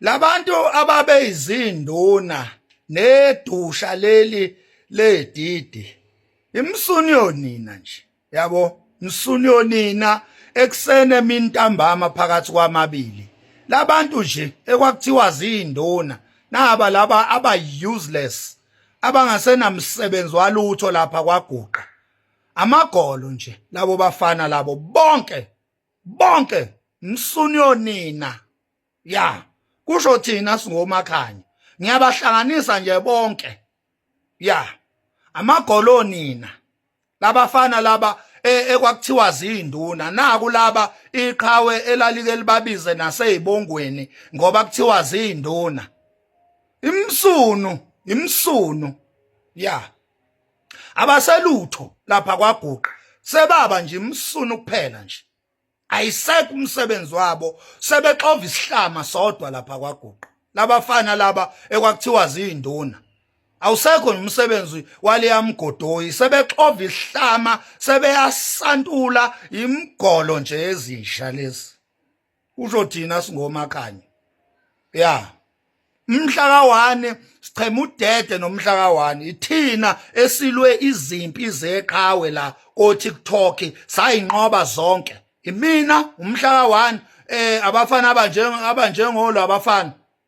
labantu ababeyizinduna nedusha leli ledidi imsuni yonina nje yabo msuni yonina ekuseni emini ntambama phakathi kwamabili labantu nje ekwakuthiwa zinduna naba laba aba useless abangasenamsebenzi walutho lapha kwaguqa amagolo nje labo bafana labo bonke bonke msunyo nina ya kusho thina singomakhanya ngiyabahlanganisa nje bonke ya amagolo nina labafana laba e, ekwakuthiwa zinduna naku laba iqhawe elalike libabize nasezibongweni ngoba kuthiwa zinduna imsunu imsunu ya abaselutho lapha kwaguqa sebaba nje imsunu kuphela nje ayisekho umsebenzi wabo sebexova isihlama sodwa lapha kwaguqa labafana laba ekwakuthiwa zinduna awusekho nomsebenzi waleyamgodoyi sebexova isihlama sebeyasantula imgolo nje ezinja lezi usho thina singoma kanye ya mhla ka-1 sichema udede nomhla ka-1 ithina esilwe izimpi zeqhawe la kotiktok sayinqoba zonke imina umhla ka-1 eh abafana abanjengolo abafana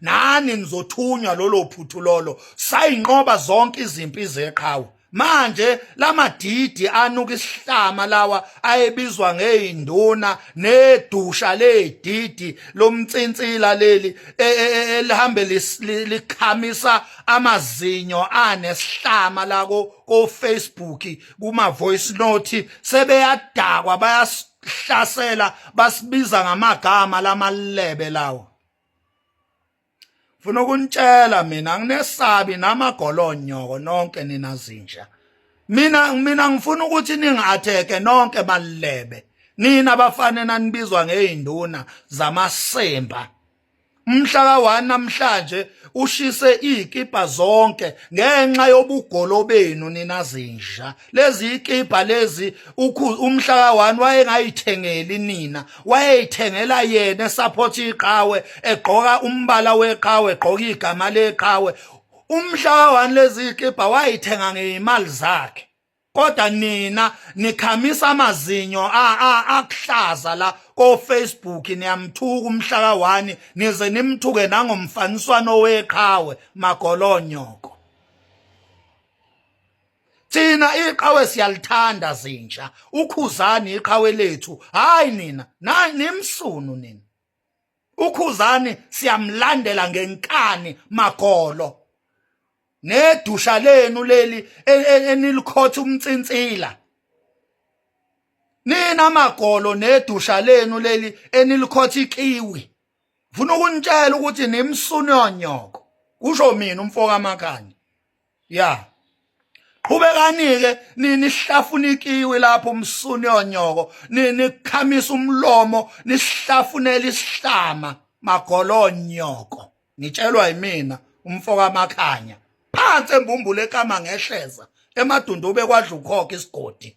nani nizothunywa lolo phuthu lolo sayinqoba zonke izimpi zeqhawe manje lamadidi anuka isihlama lawa ayebizwa ngeinduna nedusha ledidi lomtsintsila leli e, e, e, elihambe likhamisa amazinyo anesihlama lako ko Facebook kuma voice note sebeyadakwa bayasihlasela basibiza ngamagama lamalebe lawo funa ukunitshela mina nginesabi namagolonyoko nonke nina zinja mina mina ngifuna ukuthi ningi-atheke nonke balilebe nina bafane nanibizwa ngey'nduna zamasimba umhla ka-1 namhlanje ushise iy'kibha zonke ngenxa yobugolo benu nina zinja lezi ikibha lezi umhla ka-one wayengayithengeli nina wayeyithengela yena esaphotha iqhawe egqoka umbala weqhawe egqoka igama leqhawe umhla ka-one lezi ikibha wayithenga ngeyimali zakhe kodwa nina nikhamisa amazinyo akuhlaza la kofacebook niyamthuka umhla ka-one nize nimthuke nangomfaniswano weqhawe magolonyoko thina iqhawe siyalithanda zinja ukhuzani iqhawe lethu hayi nina nimsunu nina ukhuzani siyamlandela ngenkani magolo nedusha lenu leli e, e, enilikhotha umntsinsila nina magolo nedusha lenu leli enilikhotha ikiwi ngifuna ukunitshela ukuthi nimsunu yonyoko kusho mina umfoka makhanya ya qhubekani-ke nihlafuna ikiwi lapho umsuni onyoko nikhamisa umlomo nisihlafunela isihlama magolonyoko ngitshelwa yimina umfo kamakhanya phansi embumbule ekama ngehleza emadundube kwadla ukhokha isigodi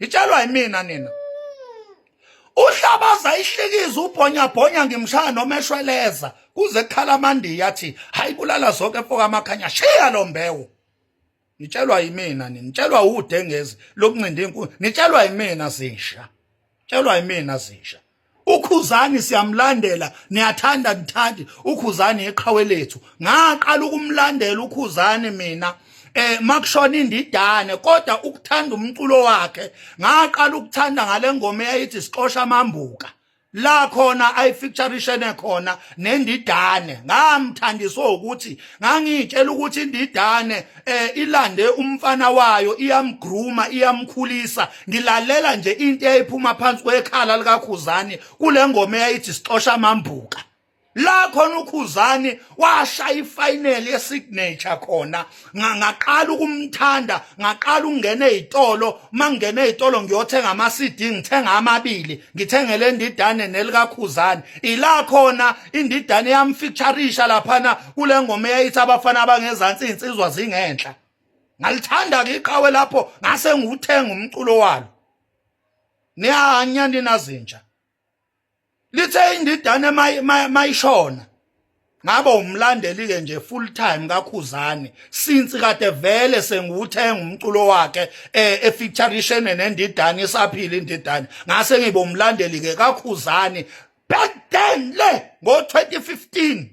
ngitshelwa yimina nina uhlabaza ihlikiza ubhonyabhonya ngimshaya noma eshweleza kuze kukhala amandiya athi hayi kulala zonke mfoka amakhanya shiya lo mbewu ngitshelwa yimina nini ngitshelwa udengezi lokuncinda inkulu ngitshelwa yimina zisha ngitshelwa yimina zisha ukhuzani siyamlandela niyathanda nithandi ukhuzani eqhawe lethu ngaqala ukumlandela ukhuzani mina eh makushona indidane kodwa ukuthanda umculo wakhe ngaqala ukuthanda ngalengoma eyayithi sixosha amambuka la khona ayifeaturishene khona nendidane ngamthandiswa ukuthi ngangitshela ukuthi indidane eh ilande umfana wayo iyamgruma iyamkhulisa ngilalela nje into eyayiphuma phansi kwekhala likakhuzani kule ngoma eyayithi sixosha amambuka la khona ukhuzani washaya ifinal yesignature khona ngaqala ukumthanda ngaqala ukungena ezitolo mangena ezitolo ngiyothenga ama CD ngithenga amabili ngithengele indidane nelikakhuzani ila khona indidane yamfeaturisha laphana kule ngoma eyayithi abafana abangezansi izinsizwa zingenhla ngalithanda ke iqhawe lapho ngase ngiwuthenga umculo walo niyanya ninazinja lithe indidane mayishona ngaba umlandeli ke nje full time kakhuzani since kade vele sengiwuthenga umculo wakhe eh, e featuration nendidane isaphila indidane ngase ngibe umlandeli ke kakhuzani back then le ngo 2015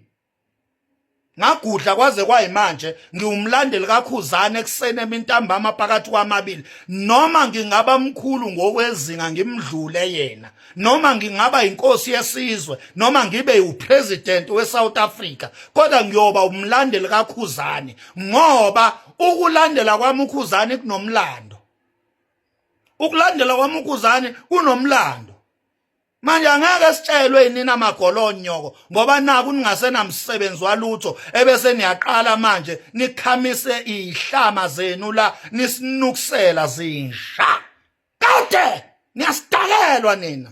ngagudla kwaze kwayimanje ngiwumlandeli kakhuzane ekuseni emintambama phakathi kwamabili noma ngingaba mkhulu ngokwezinga ngimdlule yena noma ngingaba inkosi yesizwe noma ngibe upresident weSouth Africa kodwa ngiyoba umlandeli kakhuzane ngoba ukulandela kwami ukhuzane kunomlando ukulandela kwami ukhuzane kunomlando manje angeke sitshelwe inina magolonyoko ngoba naku ningasenamsebenzi walutho ebese niyaqala manje nikhamise ihlama zenu la nisinukusela zinja kade niyasidakelwa nina